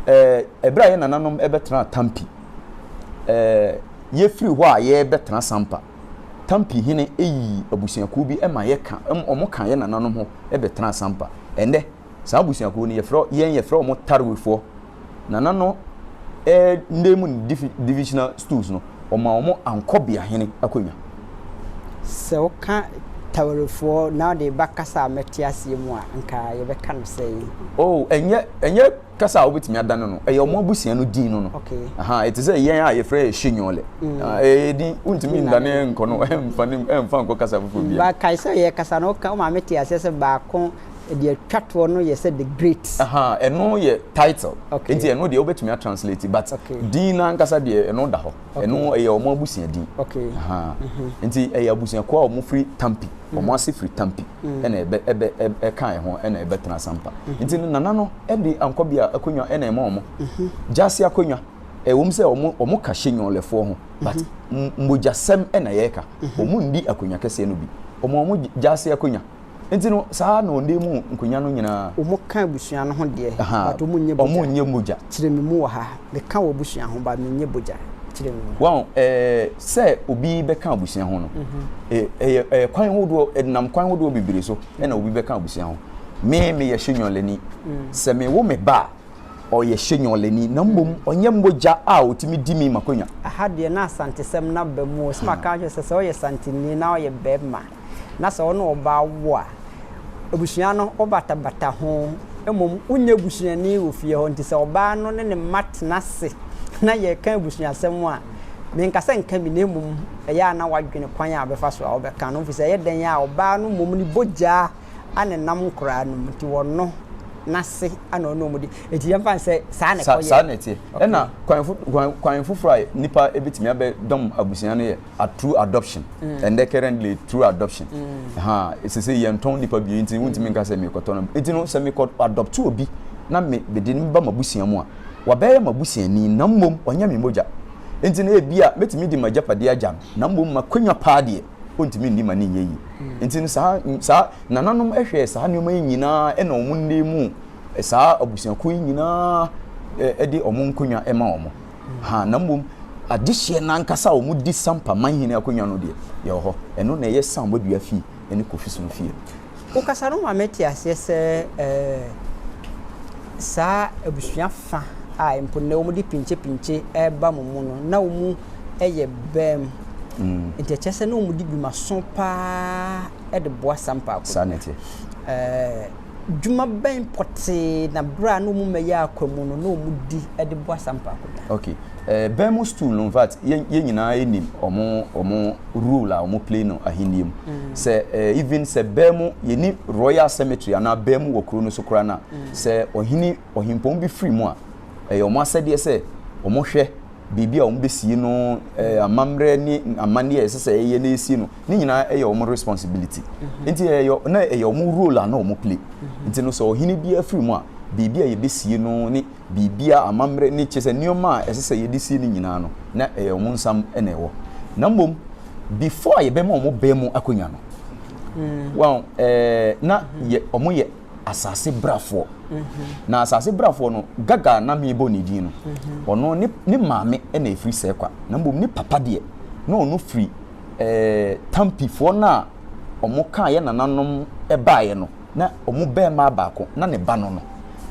Ɛɛ, ɛberɛ a yɛn nananom bɛtenaa Tampi, eh, yɛfiri hɔ a yɛrebɛtena Sampa. Tampi hene yii abusuakuo bi ma yɛka, wɔka yɛn nananom ho bɛtenaa Sampa. Ɛnnɛ, saa abusuakuo no, yɛfrɛ, yɛn yɛfrɛ wɔn Tarwefoɔ. Nana no eh, nna mu divisional stools no, wɔma wɔn Ankɔbea hene akonnwa. Sɛ woka Tarwefoɔ na wode ba kasa a mɛte aseɛ mu a, anka yɛbɛka no sɛn? Oh, ɛnyɛ, ɛnyɛ. Kasa a wobɛtumi adane no, ɛyɛ wɔn abusua no din no no. Ɛte sɛ yɛn a yɛfrɛ yɛ Shenyole. Mm. Ah, ɛyɛ din, wontumi ndane nkɔ no, ɛmfa ne ɛmfa nkɔ kasa foforɔ bi. Ba kae sɛ yɛ kasa no, woka wo maame te aseɛ sɛ baako deɛ atwa toɔ no yɛ sɛ the great. Ɛno yɛ title. Nti ɛno deɛ wobɛtumi atranslate but din no ankasa deɛ ɛno da hɔ. Ɛno ɛyɛ wɔn abusua din. Mhm. Nti ɛyɛ abusuakuo a wɔfiri Tampi. wɔn mm. ase firi tampi mm. ɛna ɛbɛ ɛbɛ ɛka ɛho ɛna ɛbɛtena sampa mm-hmm. nti no nana no ɛde ankɔ bi a akonnwa ɛna ɛma wɔn mm-hmm. gyaase akonnwa ɛwɔm sɛ wɔn wɔn ka hyɛ nyɔnlɛfoɔ ho but mm-hmm. mmogyasɛm ɛna yɛreka wɔn ndi akonnwa kɛseɛ no bi wɔn wɔn gyaase akonnwa nti no saa na ɔnde mu nkonnwa no nyinaa. wɔn ka abusua no ho deɛ. wɔn nyɛ mogya wɔn nyɛ mogya. kyerɛ mi mu wɔ ha. Me ka w'abusua ho but me nyɛ bogya kyerɛ me mu. Wahu eh, sɛ obi bɛka abusua ho no, eh, ɛyɛ eh, kwan hodoɔ, ɛdenam kwan hodoɔ bebree so ɛna obi bɛka abusua ho. Me, meyɛ Shenyɔlani. Sɛ me wo me ba a, ɔyɛ Shenyɔlani, na mmom ɔnyɛ mogya a ɔtumi di me m'akonwa. Aha deɛ na Asantesɛm no aba mu o, sɛ maka akyerɛ sɛ sɛ ɔyɛ Santini na ɔyɛ bɛɛma. na sɛ ɔne ɔbaa wo a, abusua no wobatabata ho, mmom wonyɛ busuani wɔ fie hɔ. Nti sɛ ɔbaa no ne ne mma tena ase na yɛreka abusuasɛm a, menka sɛ nka bi, na mmom ɛyɛ a na woadwene kwan a wobɛfa so a wobɛka no ho, efisɛ ɛyɛ dɛn a ɔbaa no mmom ne bogyaa a na ɛnam nkoraa no mu nti wɔno n'ase a na ɔne wɔn di. Enti yɛmfa no sɛ saa na ɛkɔyɛ. Saa na ɛteɛ. Ɛna kwan kwan kwan foforɔ a nipa ebetumi abɛdɔm abusua no yɛ. a through adoption mm. and then currently through adoption mm. ha ɛsɛ sɛ yɛntɔn nipa bie nti wontumi mm. nka sɛ mekɔtɔ no nti no sɛ mekɔ adopt obi na mede no ba mabusua mu a wabɛyɛ mabusuani na mmom ɔnyɛ me mogya nti no ebi a mɛtumi de magyapade agya no na mmom makwanya paa deɛ ɔntumi nni ma ne nyɛ yi mm. nti no saa saa nananom hwɛɛ saa nneɛma yi nyinaa ɛna wɔn nne mu saa abusuakuo yi nyinaa ɛde wɔn nkonnwa ɛma wɔn Ahaa, na mmom adehyeɛ no ankasa a wɔdi sampa man hene akonnwa no deɛ, yɛwɔ hɔ. Ɛno na ɛyɛ Sam Boadua fie ne Kofi Sono fie. Wokasa no ma mete aseɛ sɛ saa abusua fa a mpo nnɛ wɔde pinkyepinkye reba mo mu no, na wɔyɛ bam. Nti ɛkyerɛ sɛ na wɔdi dwumaso paa de boa Sampa akonnwa. Saa na ɛteɛ. Dwuma bɛn pɔtee na bere a na wɔn mma yɛ akwa mu no na wɔdi de boa saa mpakoda? Ok, eh, bɛn mo stool no infact yɛn yɛn nyinaa yɛ nim ɔmo ɔmo role a ɔmo play no ahenni mu. Mm. Sɛ eh, even sɛ bɛn mo yɛ ni royal cemetery anaa bɛn mo wɔ kuro no so koraa na mm. sɛ ɔhene ɔhempɔn bi firi mu a, ɛyɛ ɔmo asɛdeɛ sɛ ɔmo hwɛ baabi a wɔbɛsie no, eh, amammerɛ ne amanneɛ a ɛsɛ sɛ ɛyɛ na ɛsie no, ne nyinaa ɛyɛ wɔn responsibility. Mhm. Nti ɛyɛ, na ɛyɛ wɔn role a na wɔn play. Mhm. Nti no sɛ ɔhene biara firi mu a, biribi a yɛbɛsie no ne biribi a amammerɛ ne kyɛ sɛ nneɛma a ɛsɛ sɛ yɛde sie no nyinaa no, na ɛyɛ wɔn nsam na ɛwɔ. Na mmom, before a yɛbɛma wɔn bɛn mu akonnwa no, mm. wɔn, eh, na yɛ, wɔn yɛ asase brafoɔ na asase brafoɔ no gaga na mebɔ ne din no mhm. ɔno ne ne maame na efiri sɛ kwa na mbom ne papa deɛ na ɔno firi ɛɛ eh, tampifoɔ no a wɔn kaa yɛ nananom baeɛ no na wɔn bɛrima baako na ne ba no no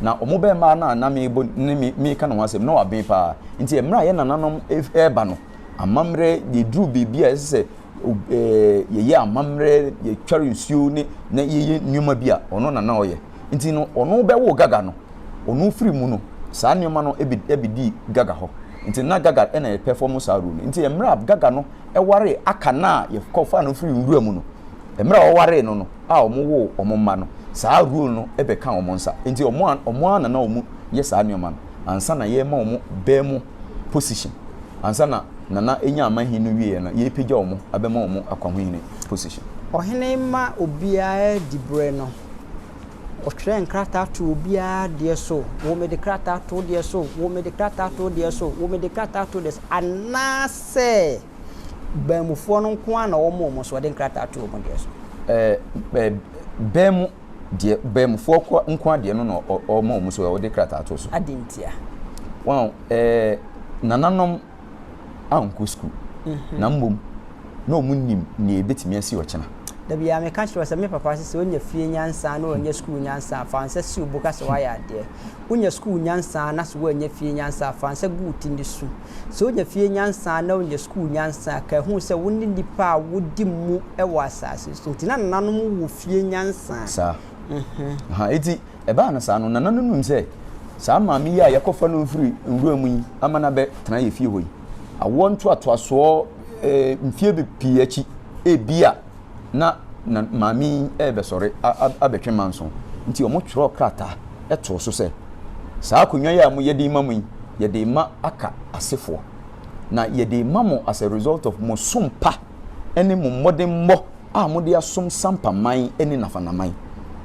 na wɔn bɛrima no a na mebɔ ne me meka ne ho asɛm na waben paa nti mmerɛ a yɛ nananom ɛreba no amammerɛ yɛduru biribi a ɛsɛ sɛ ob ɛɛ yɛyɛ amammerɛ, yɛtware nsuo ne na yɛyɛ nneɛma bi a, ɔno na na ɔyɛ. Nti no, ɔno bɛwoo Gaga no, ɔno firi mu no, saa nneɛma no bɛ bɛdii Gaga hɔ. Nti na Gaga na ɛrepɛfɔmo saa role no. Nti mmerɛ a Gaga no waree Aka no a yɛkɔfaa no firii nwura mu no, mmerɛ a ɔwaree no no a wɔwoo wɔn mma no, saa role no bɛkaa wɔn nsa. Nti wɔn a wɔn ara na na wɔyɛ saa nneɛma no ansa na yɛrema wɔn bɛ mu. position ansa na Nana enya amanhen no wieɛ no yɛɛpagya ɔmo abɛma ɔmo akwahohene position. Ɔhene ma obiara di berɛ no, ɔtwerɛ nkrataa to obiara deɛ so, wo mede krataa to wo deɛ so, wo mede krataa to wo deɛ so, wo mede krataa to wo deɛ so, anaasɛ baamufoɔ no nko ara na wɔma wɔn so, ɔde nkrataa to wɔn deɛ so. Ɛɛ, ɛɛ, baamu Deɛ baamufɔɔ kɔ nkoa deɛ no na ɔma wɔn so ɛ, ɔde krataa to so. Adɛn ntia? Wɔn a ɛ, nananom ankɔ sukuu, na mmom na wɔn nnim nea ɛbɛtumi asi ɔkyena. Da biara meka kyerɛ wo sɛ, me papa se sɛ wonya fie nyansa na woannya sukuu nyansa a, fa nsa si wo bo ka sɛ woayɛ adeɛ. Wonya sukuu nyansa na so woannya fie nyansa a, fa nsa gu wo ti ne su. Sɛ wonya fie nyansa na wonya sukuu nyansa a, ka hu sɛ wo ne nnipa a wodi mu wɔ asase so. Enti na nananom wɔ fie nyansa. Saa. Aha, enti ɛbaa no saa no, nana no nnim sɛ saa maame yi a yɛakɔfa no afiri nwura mu yi ama no abɛtena yɛn fie hɔ yi, awoɔ ntoatoasoɔ, eh, mfeɛ pii akyi, ebia. na na maame yi rebɛsɔre abɛtwe manso, nti wɔtwerɛɛ krataa too so sɛ, Saa akonnwa yi a moyɛ de rema mu yi, yɛde rema Aka asefoɔ. Na yɛde rema mo as a result of mo som pa ne mo mmɔdemmɔ a mode asom Sampa man ne Nafana man.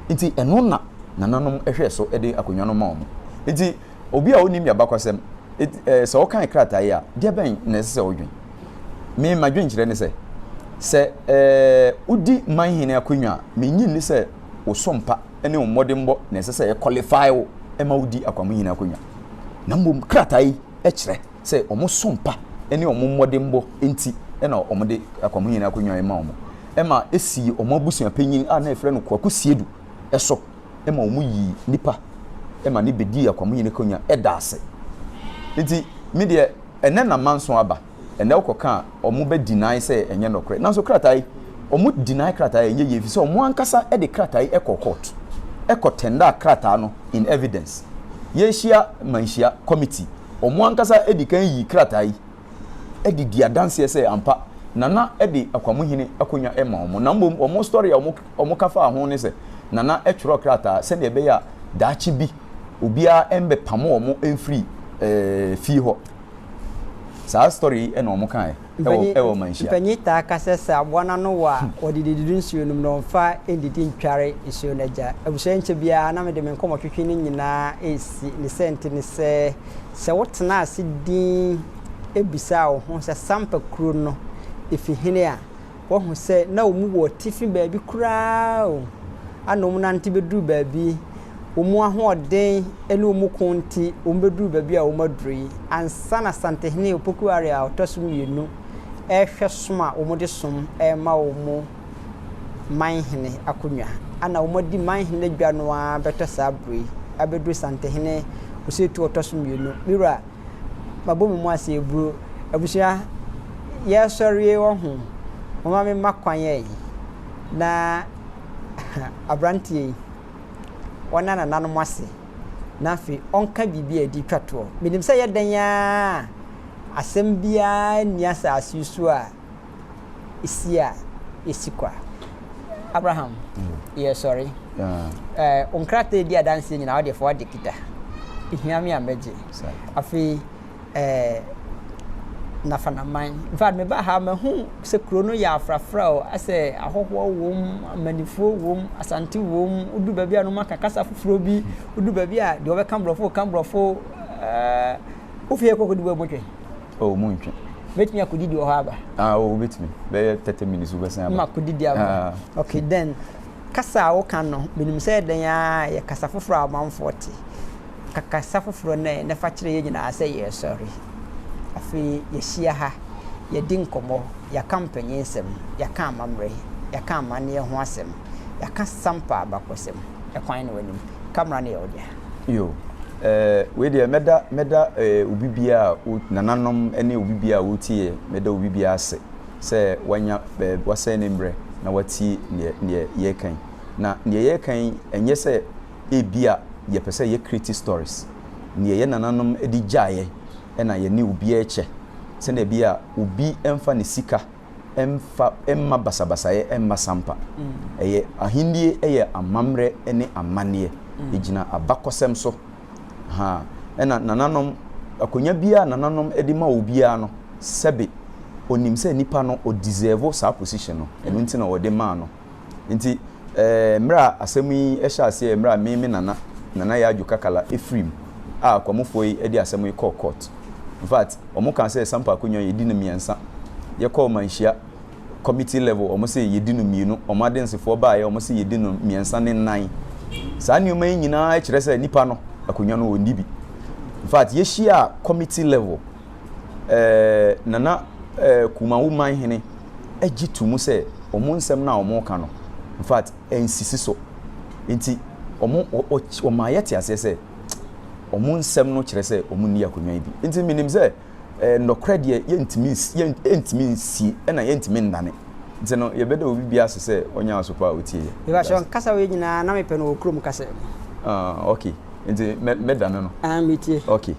Nti ɛno na nananom hwɛɛ so de akonnwa no maa wɔn. Nti. Obi a onnim y'abakɔsɛm, enti eh, sɛ ɔkan krataa yi a, deɛ bɛn na ɛsɛ sɛ ɔdwen? Me, m'adwenkyerɛ ne sɛ, sɛ eh, wodi manhene akonnwa a, mennye nni sɛ wo so mpa ne wo mmɔdenbɔ na ɛsɛ sɛ ɛkɔlifaae wo ma wodi akwamohene akonnwa, na mmom krataa yi kyerɛ sɛ wɔn so mpa ne wɔn mmɔdenbɔ nti na wɔde akwamohene akonnwa yi ma wɔn, ma esii wɔn abusuapanyin a na yɛfrɛ no Kwaku Siedu so ma wɔyii nnipa ma no bɛdii akwamuyini akonnwa da ase. Nti me deɛ ɛnnɛ na manso aba, ɛnnɛ wokɔka a wɔn bɛ deny sɛ ɛnyɛ nɔkorɛ. Nanso krataa yi, wɔn deny krataa yi ɛnyɛ yie ɛfiri sɛ wɔn ankasa de krataa yi kɔɔ court, kɔ tendered krataa no in evidence. Yɛahyia manhyia committee, wɔn ankasa dikan yii krataa yi. de di adanseɛ sɛ ampa Nana de Akwamuhene akonnwa ma wɔn, na mmom wɔn story a wɔka faa ho ne sɛ Nana twerɛɛ krataa sɛdeɛ ɛbɛyɛ a daakye bi obiara mmɛpamo wɔn mfiri fie hɔ. Saa story yi na wɔn kaeɛ wɔ manhyia. Mpanyin taa ka sɛ sɛ aboa no ano wɔ a, wɔde dididi nsuo no mu na wɔmfa nnidi ntware nsuo no agya. Abusua yi nkyɛ biara na mede me nkɔmmɔtwetwe no nyinaa resi. Ne sɛnti ne sɛ, Sɛ wotenaa ase dinn bisaa wo ho sɛ Sampa kuro no fi hene a, woahu sɛ na wɔn wɔ atifi baabi koraa o, ana wɔn nante bɛduru baabi, wɔn ahoɔden ne wɔn ko nti wɔn bɛduru baabi a wɔn aduru yi, ansa na Asantehene Opoku Ware a ɔtɔ so mmienu rehwɛ som a wɔde som rema wɔn. manhene akonnwa. Ana wɔadi manhene adwa no ara bɛtɔ saa bere yi abɛduru Santehene Osetu ɔtɔ so mmienu. Me wura, mabɔ me mu ase aburo. Abusua, yɛresɔreɛ wɔ ho. Momma me mma kwan ɛ. Na aberanteɛ yi, ɔnna nananom ase na afei ɔnka biribi a ɛde twa toɔ. Menim sɛ ɛyɛ dɛn ara a, asɛm biara nni asase yi so a si a yɛsi kwa. Abraham, yɛresɔre. Wo nkrataa edi adanseɛ nyinaa, wodeɛ fa wode kita. Ehia me a mɛgye. Afei, Nafanaman. In fact, mebaa ha mahu sɛ kuro no yɛ afrafra o, asɛ ahɔhoɔ wom, amanifoɔ wom, asante wom, wodu baabi a no maka kasa foforɔ bi, wodu baabi a deɛ wɔbɛka borɔfo ka borɔfo. Wo fie kɔ kɔdi bɔ botwe. Oh, mu ntwe. Bɛtumi akɔdidi wɔ hɔ aba. Ah, oh, wobɛtumi. Bɛyɛ 30 minutes wobɛsan aba. Ma kɔdidi aba. Ah. Okay, then kasa a woka no, menim sɛ ɛdɛn ara yɛ kasa foforɔ a amanfoɔ te. Ka kasa foforɔ no ɛ na fa kyerɛ yɛn nyinaa sɛ yɛresɔre. Afei yɛahyia ha, yɛadi nkɔmmɔ, yɛaka mpanyinnsɛm, yɛaka amammerɛ, yɛaka amanneɛ ho asɛm, yɛaka Sampa abakɔsɛm. Ɛkwan no w'anim. camera no yɛ wo dea. Yoo ɛɛ wei deɛ mɛda mɛda ɛɛ obi biara a o nananom ɛne obi biara a ɔretie yɛ mɛda obi biara ase sɛ wanya ɛɛ wasɛn ne mmerɛ na watie neɛ neɛ yɛreka yi na neɛ yɛreka yi ɛnyɛ sɛ ebi a yɛpɛ sɛ yɛ create stories neɛ yɛ nananom de gyaeɛ ɛna yɛne obiara kyɛ sɛdeɛ ɛbɛyɛ a obi ɛmfa ne sika mfa mma basabasayɛ mma sampa. Ɛyɛ Ahenni yɛ amammerɛ ne amanneɛ. Egyina abakɔsɛm so. Ha, ɛna nananom, akonnwa biara a nananom de ma obiara no, sɛbe onim sɛ nipa no ɔ'deserve' saa position no, ɛno nti na wɔde maa no. Nti mmerɛ a asɛm yi hyɛɛ aseɛ, mmerɛ a me me nana, Nana Yaa Adwo Kakala firi mu a Kwamufoɔ yi de asɛm yi kɔɔ court. In fact, wɔn kaa sɛ Sampa Akonnwa yɛdi no mmiɛnsa. Yɛkɔɔ Manhyia committee level, wɔn se yɛdi no mmienu. Wɔn adensefoɔ baeɛ, wɔn se yɛdi no mmiɛnsa ne nnan. Saa nneɛma yi nyinaa kyerɛ sɛ nipa no, akonnwa no, ɔnni bi. In fact, yɛhyiaa committee level. ɛɛ Nana ɛɛ Kumawu man hene gye to mu sɛ wɔn nsɛm no a wɔka no, in fact, ɛnsisi so. Nti wɔn, wɔma yɛte aseɛ sɛ wɔn nsɛm no kyerɛ sɛ wɔn nni akonnwa yi bi. Nti menim sɛ ɛɛ nnɔkorɛ deɛ yɛntumi yɛntumi nsie ɛna yɛntumi nnane. Nti no yɛbɛda obi biara ase sɛ ɔnyɛ asopa a ɔtie yɛ. Mebakyɛ ɔnkasa wei nyinaa na mepɛ no wɔ kurom kasa mu. Ah okay, nti mɛ mɛdane no. Ah metie. Okay.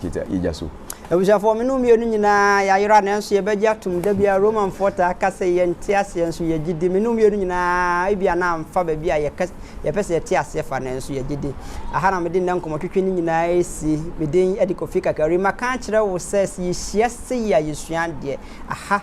Gyigya, gyigya so. Abusuafoɔ, me ne wo mmienu nyinaa yɛayera, nanso yɛbɛgye atom. Da biara Romanfoɔ taa ka sɛ yɛnte aseɛ, nso yɛgye di. Me ne wo mmienu nyinaa, ebia na amfa baabi a yɛka, yɛpɛ sɛ yɛte aseɛ fa, nanso yɛgye di. Aha na mede nnɛ nkɔmmɔtwetwe no nyinaa resi. Me din de Kofi Kakari. Maka akyerɛ wo sɛ, sɛ yɛhyia sei a, yɛsua adeɛ. Aha.